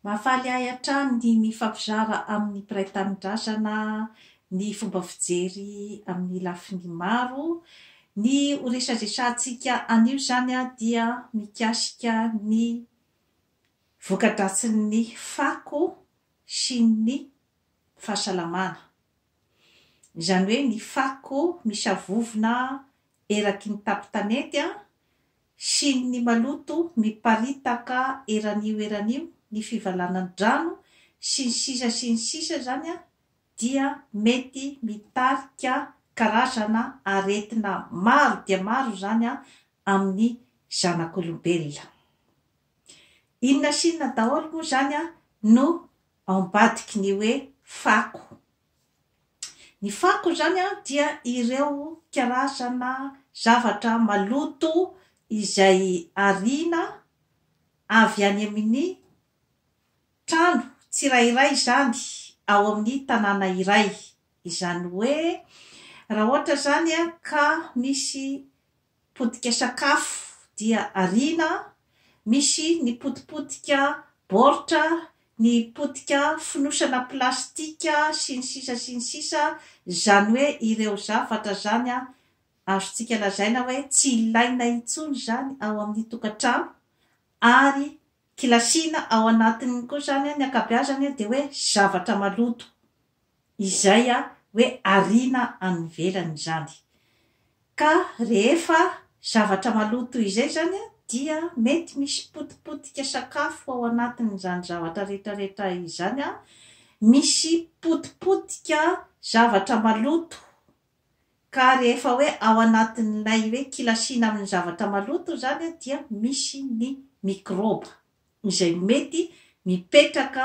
Mahafaly ahy hatrany ny mifampizara amin'ny mpiray tanindrazana ny fomba fijery amin'ny lafiny maro. Ny ho resadresantsika anio izany dia mikasika ny voka-dratsin'ny fako sy ny fahasalamana. Izany hoe ny fako misavovona eraky ny tapon-tanety Shin'ny maloto miparitaka eran'io eran'io ny fivalanan-drano sy ny sisa sy ny sisa izany dia mety mitarika karazana aretina maro dia maro izany amin'ny zanak'olombelona. Inona sy inona daholo moa izany no ao ambadiky ny hoe fako? Ny fako izany dia ireo karazana zavatra maloto izay ariana avy any amin'ny trano tsirairay izany ao amin'ny tanàna iray. Izany hoe raha ohatra izany ka misy potika sakafo dia ariana, misy ny potipotika baoritra, ny potika fonosana plastika sy ny sisa sy ny sisa, zany hoe ireo zavatra zany azontsika lazaina hoe tsy ilaina intsony zany ao amin'ny tokantrano ary Kilasiana ao anatiny koa izany ny ankabeazany dia hoe zavatra maloto izay hoe ariana any ivelany izany. Ka rehefa zavatra maloto toy izay izany dia mety misy potipotika sakafo ao anatin'izany zavatra rehetrarehetra izany, misy potipotika zavatra maloto Ka rehefa hoe ao anatin'ilay hoe kilasiana amin'ny zavatra maloto izany dia misy ny mikrôba izay mety mipetraka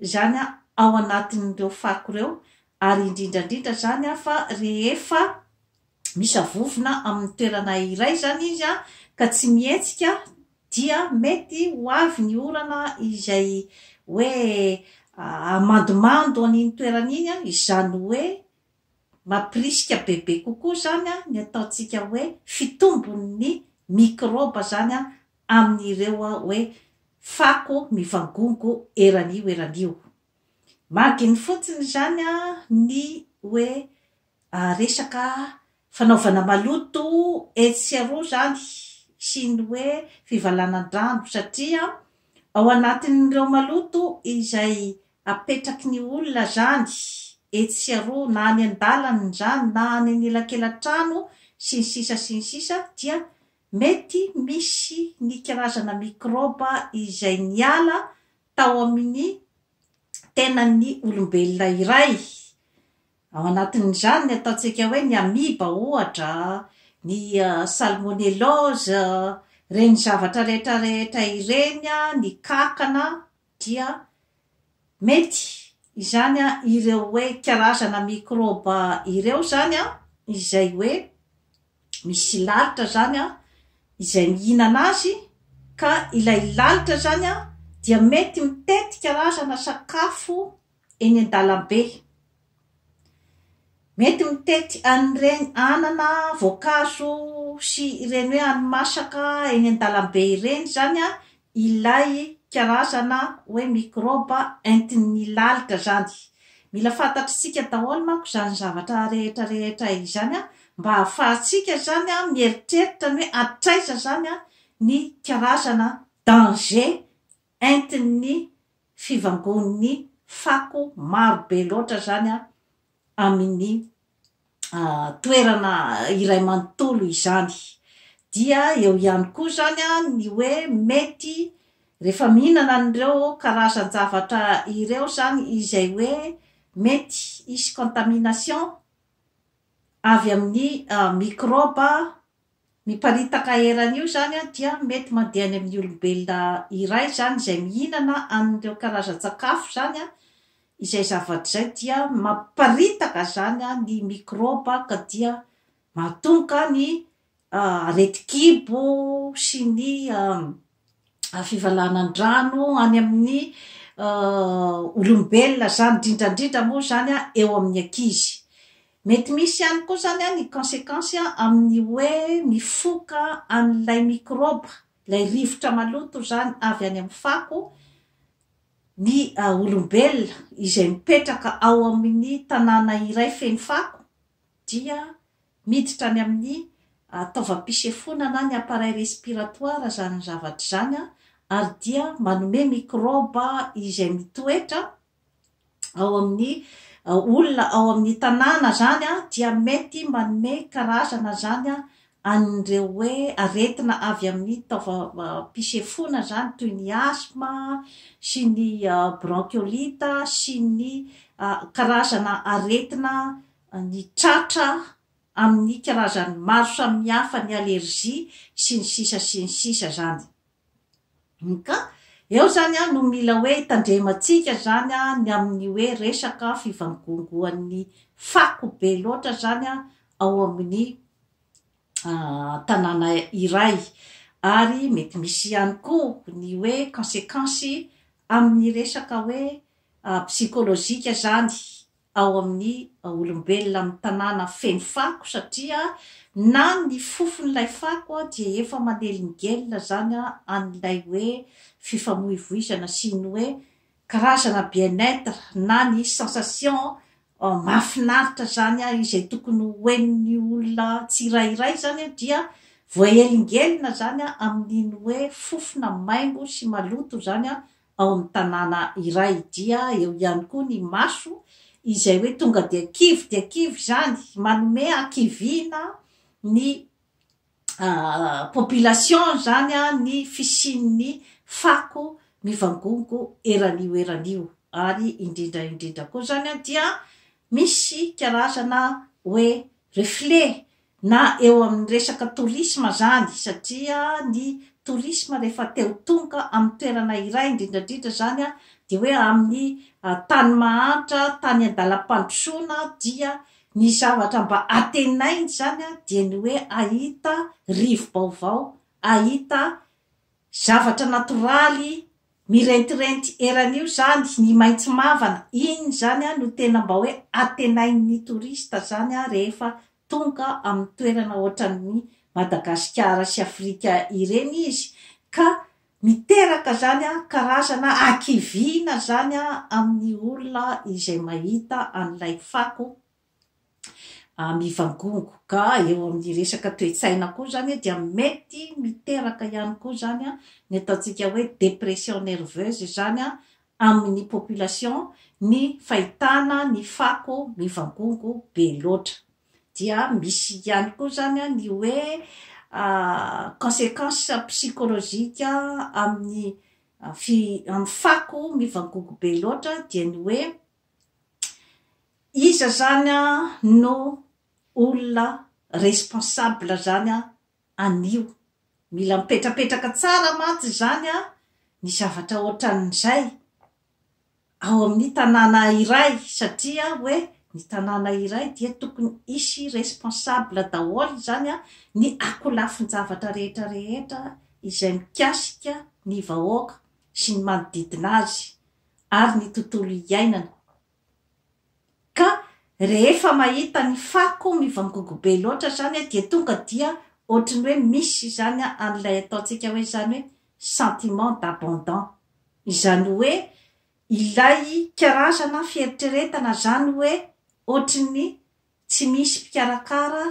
izany ao anatin'ireo fako ireo ary indrindra indrindra izany fa rehefa misavovona amin'ny toerana iray izany izy ka tsy mihetsika dia mety ho avy ny orana izay hoe hamandomando an'iny toerana iny izany hoe Mampirisika bebe kokoa izany ny ataontsika hoe fitombon'ny mikrôba izany amin'ireo hoe fako mivangongo eran'io eran'io. Marginy fotsiny izany ny hoe resaka fanaovana maloto etsy sy aroa izany sy ny hoe fivalanan-drano satria ao anatin'ireo maloto izay Apetraky ny olona zany etsy sy aroa na any an-dalana izany na any an'elakelan-trano sy ny sisa sy ny sisa dia mety misy ny karazana mikraoba izay niala tao amin'ny tenan'ny olombelona iray, ao anatin'izany ny ataontsika hoe ny amiba ohatra, ny salmonellose, ireny zavatra rehetra rehetra ireny, ny kankana. dia mety izany ireo hoe karazana mikrôba ireo izany izay hoe misy lalitra izany izay mihinana azy ka ilay lalitra izany dia mety mitety karazana sakafo eny an-dalambe. Mety mitety an'ireny anana, voankazo sy ireny hoe hani-masaka eny an-dalambe ireny izany ilay karazana hoe mikraoba entin'ny lalitra izany. Mila fantatr'isika daholo manko izany zavatra rehetra rehetra izany mba hahafahantsika izany mieritreritra ny hoe hatraiza izany ny karazana danger. entin'ny fivangon'ny fako maro be loatra izany amin'ny toerana iray manontolo izany. Dia eo ihany koa izany ny hoe mety rehefa mihinana an'ireo karazan-javatra ireo izany izay hoe mety hisy contamination avy amin'ny mikraoba Miparitaka eran'io izany dia mety mandeha any amin'ny olombelona iray izany izay mihinana an'ireo karazan-tsakafo izany, izay zavatra izay dia mamparitaka izany ny mikrôba ka dia mahatonga ny aretin-kibo sy ny fivalanan-drano any amin'ny olombelona izany, indrindra indrindra moa izany eo amin'ny ankizy. Mety misy ihany koa izany ny consequence amin'ny hoe mifoka an'ilay mikrôba, ilay rivotra maloto izany avy any amin'ny fako ny olombelona izay mipetraka ao amin'ny tanàna iray feno fako. dia miditra any amin'ny taovam-pisefoana na ny appareil respiratoire izany zavatra izany ary dia manome mikraoba izay mitoetra ao amin'ny olona ao amin'ny tanàna izany dia mety manome karazana izany an'ireo hoe aretina avy amin'ny taovam-pisefoana izany toy ny asthme sy ny bronchiolite sy ny karazana aretina ny tratra amin'ny karazany maro samihafa ny allergie sy ny sisa sy ny sisa zany ka eo zany an no mila hoe hitandremantsika zany an ny amin'ny hoe resaka fivangongoan'ny fako be loatra zany an ao amin'ny tanàna iray ary mety misy ihany koa ny hoe consequence amin'ny resaka hoe psychologique zany ao amin'ny olombelona amin'ny tanàna feno fako satria na ny fofon'ilay fako dia efa manelingelina izany an'ilay hoe fifamoivoizana sy ny hoe karazana bien-être na ny sensation mahafinaritra izany izay tokony ho henon'ny olona tsirairay izany dia voaelingelina izany amin'iny hoe fofona maimbo sy maloto izany ao amin'ny tanàna iray. Dia eo ihany koa ny maso izay hoe tonga dia kivy dia kivy izany, manome hakiviana ny population izany ny fisian'ny fako mivangongo eran'io eran'io. Ary indrindra indrindra koa izany dia misy karazana hoe reflet na eo amin'ny resaka tourisme zany satria ny tourisme rehefa te ho tonga amin'ny toerana iray indrindra indrindra zany a de hoe amin'ny tany mahantra tany an-dalam-pandrosoana dia ny zavatra mba antenainy zany a dia ny hoe ahita rivo-baovao ahita Zavatra natoraly mirentirenty eran'io izany ny maitso mavana, iny izany no tena mba hoe antenain'ny touriste izany rehefa tonga amin'ny toerana ohatran'ny Madagasikara sy Afrika ireny izy ka miteraka izany karazana hakiviana izany amin'ny olona izay mahita an'ilay fako mivangongo. Ka eo amin'ny resaka toe-tsaina koa izany dia mety miteraka ihany koa izany ny ataontsika hoe dépression nerveuse izany amin'ny population ny fahitana ny fako mivangongo be loatra. Dia misy ihany koa izany ny hoe consequence psychologique amin'ny fako mivangongo be loatra dia ny hoe Iza izany an no olona responsable izany an anio? Mila mipetrapetraka tsara mantsy izany an ny zavatra ohatran'izay ao amin'ny tanàna iray satria hoe ny tanàna iray dia tokony hisy responsable daholo izany an ny akolafin-javatra rehetra rehetra izay mikasika ny vahoaka sy ny manodidina azy. ary ny tontolo iainana. Ka rehefa mahita ny fako mivangongo be loatra izany aho dia tonga dia ohatry ny hoe misy izany an'ilay ataontsika hoe izany hoe sentiment d'abandon. Izany hoe ilay karazana fieritreretana izany hoe ohatry ny tsy misy mpikarakara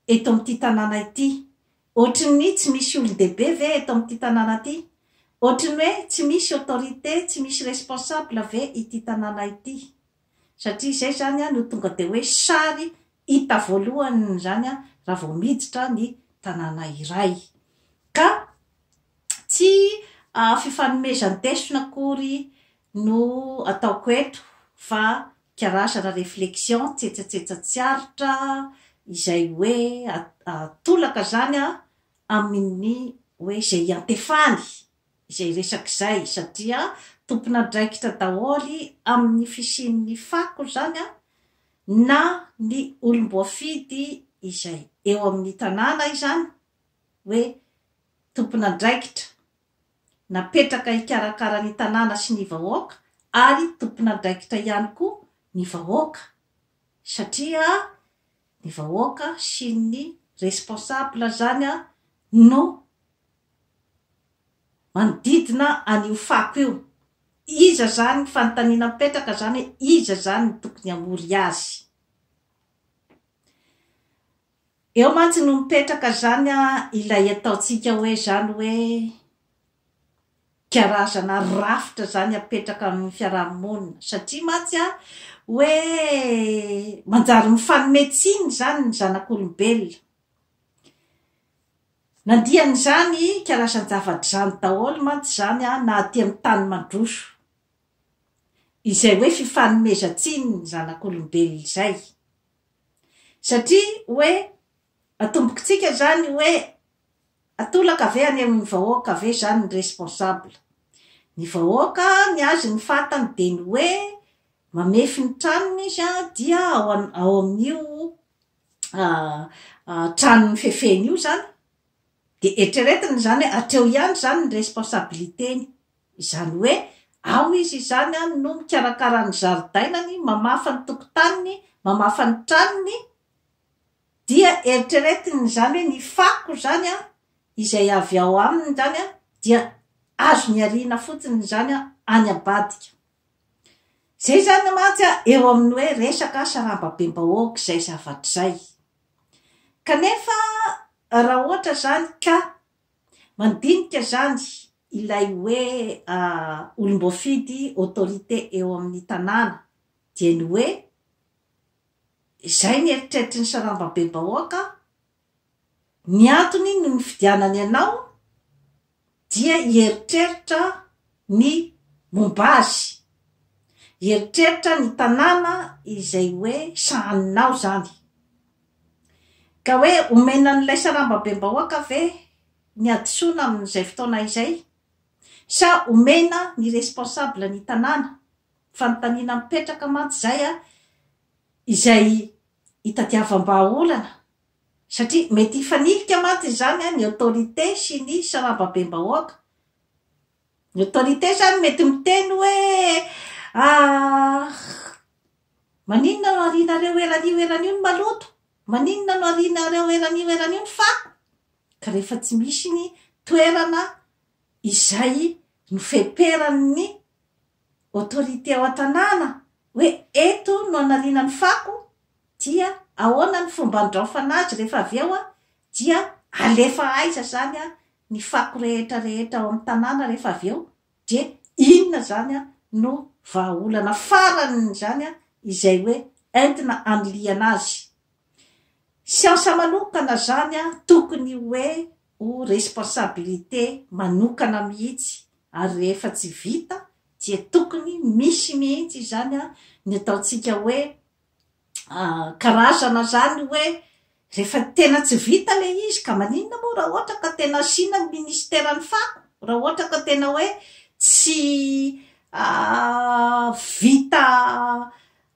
eto amin'ity tanàna ity. Ohatry ny tsy misy olon-dehibe ve eto amin'ity tanàna ity? Ohatry ny hoe tsy misy autorité, tsy misy responsable ve ity tanàna ity? Satria izay izany no tonga dia hoe sary hita voalohany izany raha vao miditra ny tanàna iray. Ka tsy fifanomezan-tesona akory no ataoko eto fa karazana reflexion tsetsatsetsa tsy aritra izay hoe atolaka izany an amin'ny hoe izay iantefany izay resaka izay satria tompon'andraikitra daholo amin'ny fisian'ny fako izany an na ny olom-boafidy izay eo amin'ny tanàna izany hoe tompon'andraikitra napetraka hikarakara ny tanàna sy ny vahoaka ary tompon'andraikitra ihany koa ny vahoaka satria ny vahoaka sy ny responsable zany no manodidina an'io fako io. Iza zany, fanontaniana mipetraka zany hoe iza zany no tokony hamory azy? Eo mantsy no mipetraka zany an ilay ataontsika hoe zany hoe karazana rafitra zany apetraka amin'ny fiaraha-monina satria mantsy an hoe manjary mifanome tsiny zany ny zanak'olombelona. Nandian'izany karazan-javatra izany daholo mantsy zany an na aty amin'ny tany mandroso izay hoe fifanomezan-tsiny ny zanak'olombelona izay. Satria hoe atombokitsika zany hoe atolaka ve any amin'ny vahoaka ve zany ny responsable? Ny vahoaka ny azy ny fatany dia ny hoe mamefy ny tranony izy an dia ao ao amin'io tranony fefeny io zany dia eritreretiny zany hoe hatreo ihany zany ny responsabilité-ny. Izany hoe, ao izy izany an no mikarakara ny zaridainany, mamafa ny tokotaniny, mamafa ny tranony, dia eritreretiny izany hoe ny fako izany an, izay avy ao aminy izany an, dia azony ariana fotsiny izany an, any ambadika. Izay izany mantsy an, eo amin'ny hoe resaka sarambabem-bahoaka izay zavatra izay. Kanefa raha ohatra izany ka mandinika izany ilay hoe olom-boafidy autorité eo amin'ny tanàna dia ny hoe izay ny eritreritry ny sarambabebahoaka ny antony ny nifidianany anao dia hieritreritra ny momba azy hieritreritra ny tanàna izay hoe sahaninao izany ka hoe omena an'ilay sarambabem-bahoaka ve ny hadisoana amin'izay fotoana izay? Sa omena ny responsable ny tanàna? Fanontaniana mipetraka mantsy izay a! izay hitadiavam-bahaolana satria mety hifanilika mantsy izany ny autorité sy ny sarambabem-bahoaka. Ny autorité izany mety miteny hoe ah, maninona no arianareo eran'io eran'io ny maloto? Maninona no arianareo eran'io eran'io ny fako? ka rehefa tsy misy ny toerana izay nofeperan'ny autorité ao an-tanàna hoe eto no anariana ny fako dia ahoana ny fomba andraofana azy rehefa avy eo dia alefa aiza izany ny fako rehetra rehetra ao amin'ny tanàna rehefa avy eo dia inona izany no vahaolana faran'izany izay hoe entina anilihana azy Siansa manokana zany a, tokony hoe ho responsabilité manokana mihitsy ary rehefa tsy vita dia tokony misy mihitsy izany a ny ataontsika hoe karazana zany hoe rehefa tena tsy vita le izy ka maninona moa raha ohatra ka tena asiana ny ministeran'ny fako raha ohatra ka tena hoe tsy vita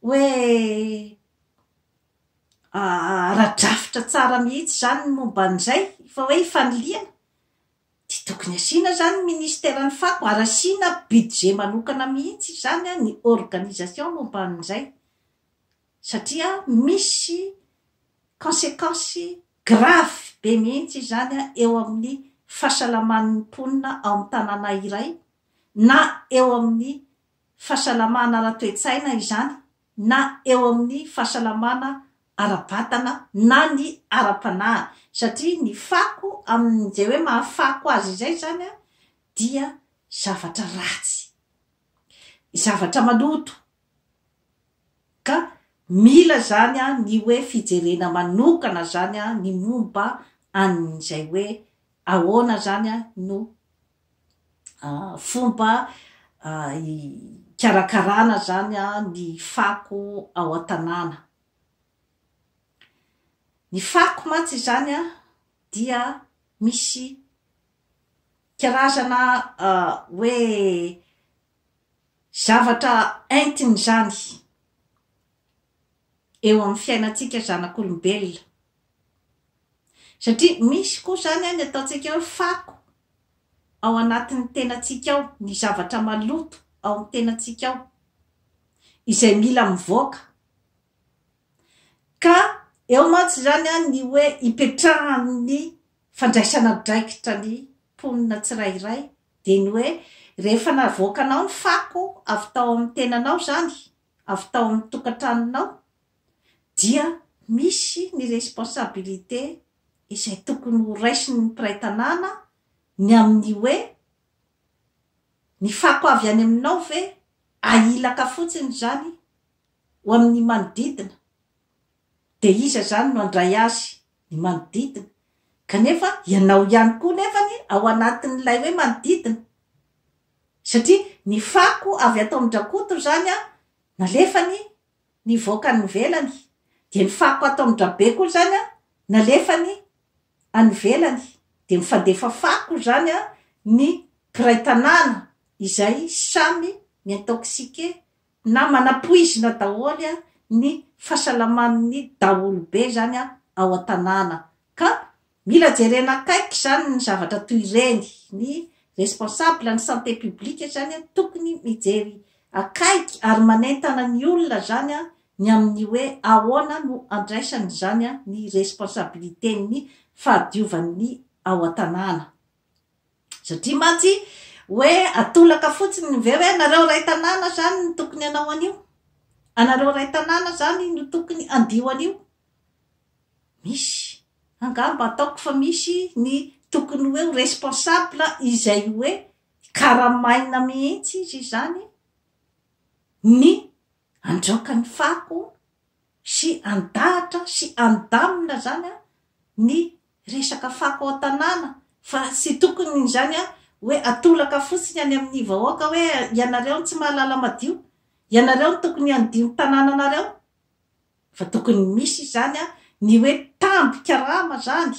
hoe ara-drafitra tsara mihitsy izany ny momba an'izay fa hoe fanilihana dia tokony asiana izany ny ministeran'ny fako ary asiana budget manokana mihitsy izany ny organisation momba an'izay satria misy consequence grave be mihitsy izany eo amin'ny fahasalaman'ny mponina ao amin'ny tanàna iray na eo amin'ny fahasalamana ara-toetsaina izany na eo amin'ny fahasalamana ara-batana na ny ara-panahy satria ny fako amin'izay hoe mahafako azy izay zany dia zavatra ratsy, zavatra maloto ka mila zany ny hoe fijerena manokana zany ny momba an'izay hoe ahoana zany no fomba hikarakarana izany ny fako ao an-tanàna. Ny fako mantsy izany an, dia misy karazana hoe zavatra entiny izany eo amin'ny fiainantsika zanak'olombelona. Satria misy koa izany an, ny ataontsika hoe fako ao anatin'ny tenantsika ao, ny zavatra maloto ao amin'ny tenantsika ao, izay mila mivoaka. Ka eo mantsy izany an, ny hoe ipetrahan'ny fandraisana andraikitra ny mponina tsirairay, dia ny hoe rehefa navoakanao ny fako avy tao amin'ny tenanao izany, avy tao amin'ny tokantranonao, dia misy ny responsabilité izay tokony ho raisin'ny mpiray tanàna ny amin'ny hoe, ny fako avy any aminao ve ahilaka fotsiny izany ho amin'ny manodidina? Dia iza izany no handray azy? Ny manodidina. Kanefa ianao ihany koa nefany ao anatin'ilay hoe manodidina. Satria ny fako avy ato amin-dRakoto izany nalefany Nivoaka any ivelany. Dia ny fako ato amin-dRabe koa izany an, nalefany any ivelany. Dia mifandefa fako izany an, ny mpiray tanàna izay samy mi-intoxiquer na manapoizina daholo an, ny fasalaman'ny daholobe izany an, ao an-tanàna. Ka Mila jerena akaiky izany ny zavatra toy ireny. Ny responsable ny santé publique izany tokony mijery akaiky ary manentana ny olona izany ny amin'ny hoe ahoana no andraisany izany ny responsabilité-n'ny fahadiovan'ny ao an-tanàna. Satria mantsy hoe atolaka fotsiny ve hoe nareo ray tanàna izany no tokony hanao an'io? Anareo ray tanàna izany no tokony handio an'io? Misy. Angamba ataoko fa misy ny tokony hoe ho responsable izay hoe karamaina mihitsy izy izany ny andraoka ny fako sy andahatra sy andamina zany ny resaka fako ao an-tanàna fa tsy tokony izany hoe atolaka fotsiny any amin'ny vahoaka hoe ianareo no tsy mahalala madio, ianareo no tokony handio ny tanànanareo Fa tokony misy izany a, ny hoe tambin-karama izany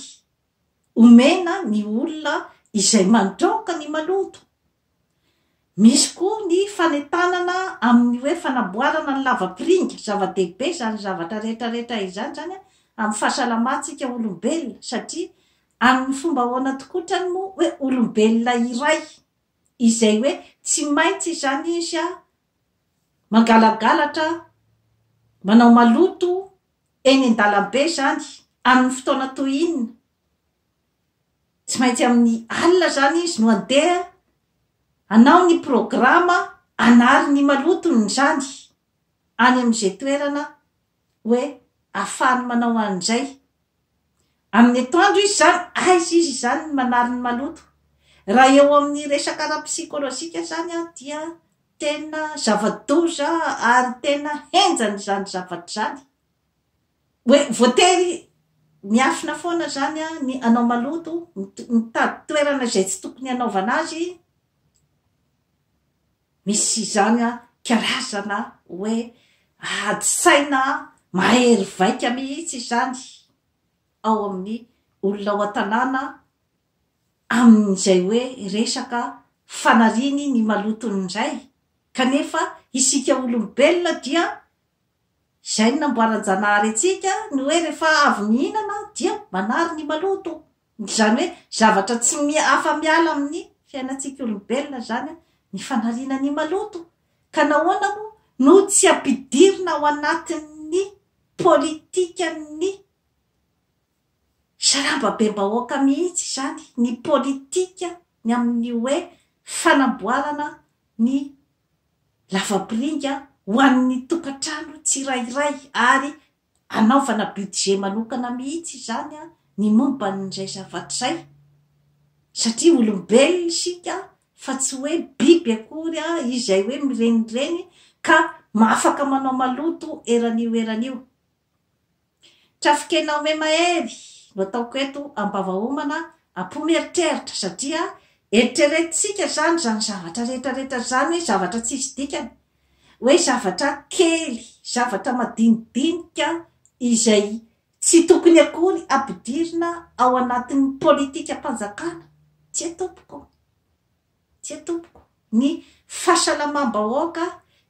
omena ny olona izay mandraoka ny maloto. Misy koa ny fanentanana amin'ny hoe fanamboarana ny lavapiringa, zava-dehibe izany zavatra rehetra rehetra izany izany a, amin'ny fahasalamantsika olombelona satria amin'ny fomba ahoana tokoa otrany moa hoe olombelona iray izay hoe tsy maintsy izany izy a mangalagalatra, manao maloto eny an-dalambe izany amin'ny fotoana toy inona? Tsy maintsy amin'ny alina izany izy no handeha hanao ny programa hanary ny malotony izany any amin'izay toerana hoe afahany manao an'izay. Amin'ny etoandro izy izany, aiza izy izany ny manary ny maloto? Raha eo amin'ny resaka ara-psikolojika izany dia tena zava-doza ary tena henjana izany zavatra izany. Hoe voatery miafina foana izany ny hanao maloto, mitady toerana izay tsy tokony hanaovana azy, Misy izany an, karazana hoe ady saina mahery vaika mihitsy izany ao amin'ny olona ao an-tanàna amin'izay hoe resaka fanariany ny malotony indray kanefa isika olombelona dia izay no namboaran-janahary antsika ny hoe rehefa avy mihinana dia manary ny maloto. Izany hoe zavatra tsy afa-miala amin'ny fiainantsika olombelona izany ny fanariana ny maloto. Ka nahoana moa no tsy ampidirina ao anatin'ny politikan'ny sarambabem-bahoaka mihitsy izany ny politika ny amin'ny hoe fanamboarana ny lavapiringa ho an'ny tokantrano tsirairay ary Anaovana budget manokana mihitsy izany ny momban'izay zavatra izay satria olombelona isika fa tsy hoe biby akory izay hoe mirenireny ka afaka manao maloto eran'io eran'io. Trafikena ome mahery no ataoko eto ambavaomana apo mieritreritra satria eritreretintsika izany izany zavatra rehetra rehetra izany zavatra tsisy dikany hoe zavatra kely, zavatra madinidinika izay tsy tokony akory ampidirina ao anatin'ny politikam-panjakana, tsia tompoko, tsia tompoko, ny fahasalamam-bahoaka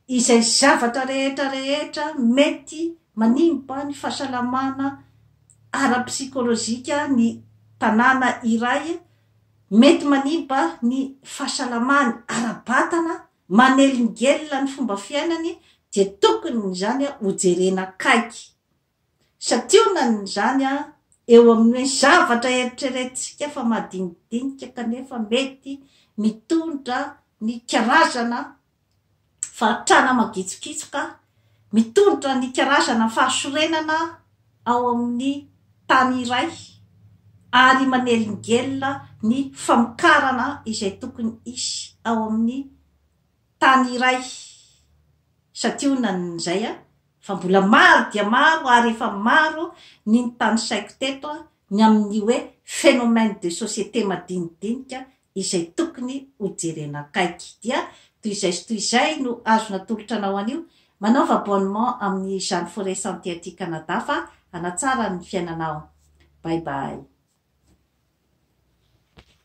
izay zavatra rehetra rehetra mety manimba ny fahasalamana ara-psikolojika ny tanàna iray, mety manimba ny fahasalamany ara-batana manelingelina ny fomba fiainany dia tokony izany ho jerena akaiky. Santionany izany eo amin'ny hoe zavatra eritreretintsika fa madinidinika kanefa mety mitondra ny karazana fahantrana magitsokitsoka, mitondra ny karazana fahasorenana, ao amin'ny tany iray ary manelingelina ny famokarana izay tokony hisy ao amin'ny tany iray satria hono na izay an, fa mbola maro dia maro ary efa maro ny notanisaiko teto ny amin'ny hoe phénomène de société madinidinika izay tokony ho jerena akaiky dia toy izay sy toy izay no azo natolotra anao anio, manaova abonnement amin'ny Jeanne Forêt Santé aty Canada fa hanatsara ny fiainanao. Bye bye.